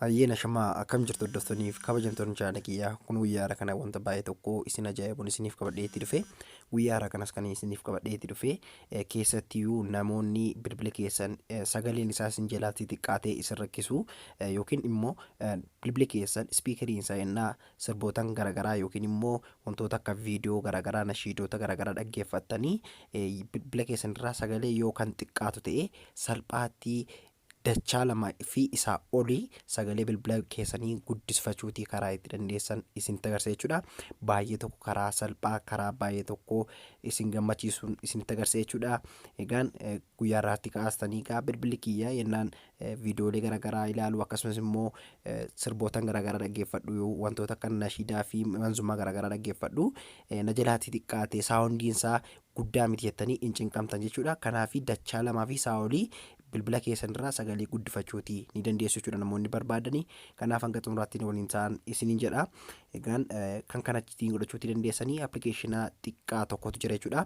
Ayyeena shamaa akkam jirtu hordoftooniif kabajamtoonni chaanala kiyyaa kun guyyaa haaraa kana wanta baay'ee tokko isin ajaa'ibuun isiniif qabadhee itti dhufe guyyaa haaraa kanas kan isiniif qabadhee itti dhufe eh, keessattiyyuu namoonni bilbila keessan eh, sagaleen isaa isin jalaatti xiqqaatee isin rakkisu eh, yookiin immoo eh, bilbila keessan ispiikariin isaa innaa sirbootan garagaraa yookiin immoo wantoota akka viidiyoo garagaraa nashiidoota garagaraa dhaggeeffattanii bilbila keessan irraa sagalee yoo kan xiqqaatu ta'e salphaatti dachaa lama fi isaa olii sagalee bilbila keessanii guddisfachuutii karaa itti dandeessan isinitti agarsiisa jechuudha. Baay'ee tokko karaa salphaa karaa baay'ee tokko isin gammachiisuun isinitti agarsiisa jechuudha. Egaan guyyaa irraatti kaastanii egaa bilbilli kiyya yennaan Viidiyoolee garaagaraa ilaalu akkasumas immoo sirbootan garaagaraa dhaggeeffadhu wantoota akka nashiidaa fi manzumaa garaagaraa dhaggeeffadhu na jalaatii xiqqaate saawundiin isaa guddaa miti jettanii hin cinqamtan jechuudha kanaaf dachaa lamaa fi isaa olii bilbila keessan irraa sagalee guddifachuuti ni dandeessu jechuudha namoonni barbaadanii kanaaf hanga xumuraatti waliin ta'an isiniin jedha Egaan kan kana ittiin godhachuutti dandeessanii appilikeeshina xiqqaa tokkotu jira jechuudha.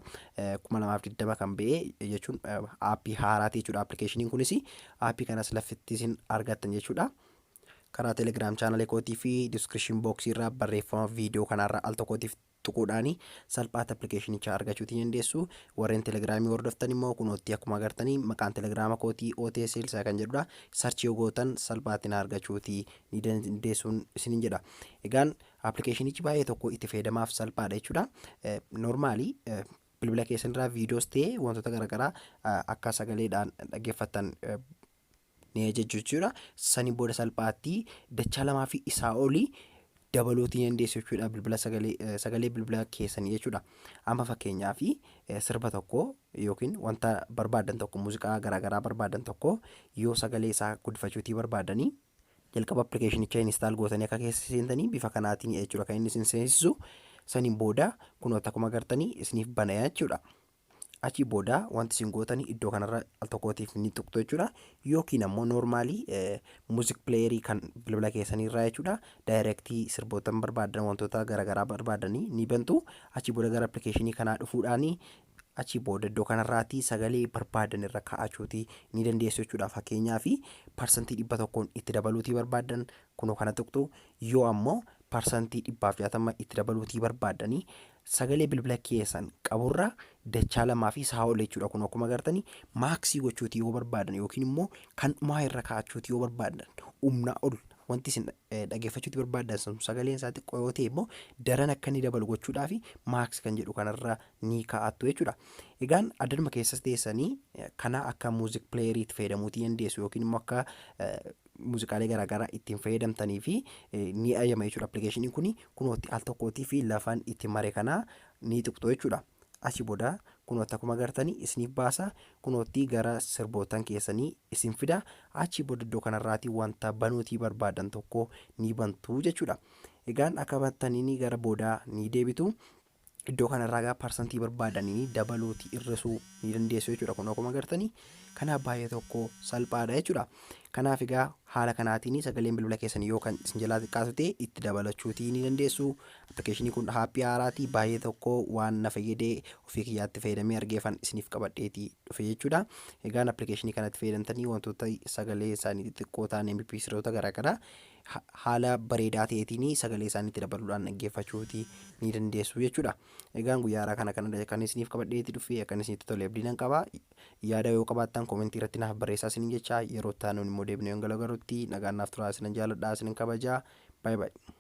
kuma lamaaf digdama kan ba'e jechuun aappii haaraati jechuudha appilikeeshiniin kunis aappii kanas laffitti isin argattan jechuudha. Karaa telegiraam chaanalee kootii fi diskiripshin booksii irraa barreeffama viidiyoo kanaarraa al tokkootiif tuquudhaan salphaatti appilikeeshinicha argachuutti ni dandeessu. Warreen telegiraamii hordoftan immoo kunoottii akkuma agartanii maqaan telegiraama kootii OTSL isaa kan jedhudha. Sarchii yoo gootan salphaatti na argachuutti ni dandeessuun isinin jedha. Egaan appilikeeshinichi baay'ee tokko itti fayyadamaaf salphaadha jechuudha. Noormaali bilbila keessan irraa viidiyoos ta'ee wantoota garaagaraa akka sagaleedhaan dhaggeeffattan ni ajajju jechuudha. Saniin booda salphaatti dachaa lamaa fi isaa olii dabaluutii ni dandeessu jechuudha bilbila sagalee sagalee bilbila keessanii jechuudha. Amma fakkeenyaaf sirba tokko yookiin wanta barbaadan tokko muuziqaa garaagaraa barbaadan tokko yoo sagalee isaa guddifachuutii barbaadanii Jalqaba appilikeeshinicha install gootanii akka keessa seentanii bifa kanaatiin jechuudha kan inni isin seensisu. Saniin booda kunoo akkuma agartanii isiniif banaya jechuudha. Achii booda wanti isin gootanii iddoo kanarra al tokkootiif ni tuqxu jechuudha. Yookiin ammoo noormaalii muuziq pileeyerii kan bilbila keessaniirraa jechuudha. Daayirektii sirboota barbaadan wantoota garaagaraa barbaadanii ni bantu. Achii booda gara appilikeeshinii kanaa dhufuudhaanii Achii booda iddoo kanarraati sagalee barbaadan irra kaa'achuuti ni dandeessu jechuudha. Fakkeenyaaf parsantii dhibba tokkoon itti dabaluutii barbaadan kunoo kana tuqxu yoo ammoo parsantii dhibbaaf jaatama itti dabaluutii barbaadanii sagalee bilbila keessan qaburra dachaa lamaa fi isaa ol jechuudha. Kun akkuma agartanii maaksii gochuuti yoo barbaadan yookiin immoo kan dhumaa irra kaa'achuuti yoo barbaadan humnaa ol wanti isin dhaggeeffachuuti barbaadan sun sagaleen isaa xiqqoo yoo ta'e immoo daran akka inni dabalu gochuudhaaf maaksi kan jedhu kanarra ni kaa'attu jechuudha. Egaan addanuma keessas teessanii kana akka muuziq pileeyerii itti fayyadamuutii dandeessu yookiin immoo akka muuziqaalee garaagaraa ittiin fayyadamtanii fi ni ayyama jechuudha. Appilikeeshiniin kun kunootti al tokkootii fi lafaan itti mare kana ni tuqxu jechuudha. Asii booda kunootti akkuma agartanii isiniif baasa kunootti gara sirbootan keessanii isin fida achii booda iddoo kanarraatii wanta banuutii barbaadan tokko ni bantuu jechuudha. Egaan akka bantaniin gara boodaa ni deebitu. Iddoo kanarraa egaa parsantii barbaadanii dabaluuti hir'isuu ni dandeessu jechuudha. Kun akkuma agartanii kanaaf baay'ee tokko salphaadha jechuudha. Kanaaf egaa haala kanaatiin sagaleen bilbila keessan yoo kan isin jalaa xiqqaatu ta'e itti dabalachuuti ni dandeessu. Appilikeeshinii kun haappii haaraati baay'ee tokko waan na fayyade ofii kiyyaatti fayyadamee argeefan isiniif qabadheeti dhufe jechuudha. Egaan appilikeeshinii kanatti fayyadamtanii wantoota sagalee isaanii xixiqqoo ta'an MP3 garaagaraa haala bareedaa ta'eetiin sagalee isaaniitti dabaluudhaan dhaggeeffachuuti ni dandeessu jechuudha. Egaan guyyaa haaraa kana kan kan isiniif qabadhee itti dhufee akkan isinitti tole abdii nan qaba. Yaada yoo qabaattan koomentii irratti naaf barreessaa isinin jecha yeroo itti aanuun immoo deebinee yoon galagarrutti nagaan naaf turaa isinan jaaladhaa isinin kabajaa. Baay'ee baay'ee.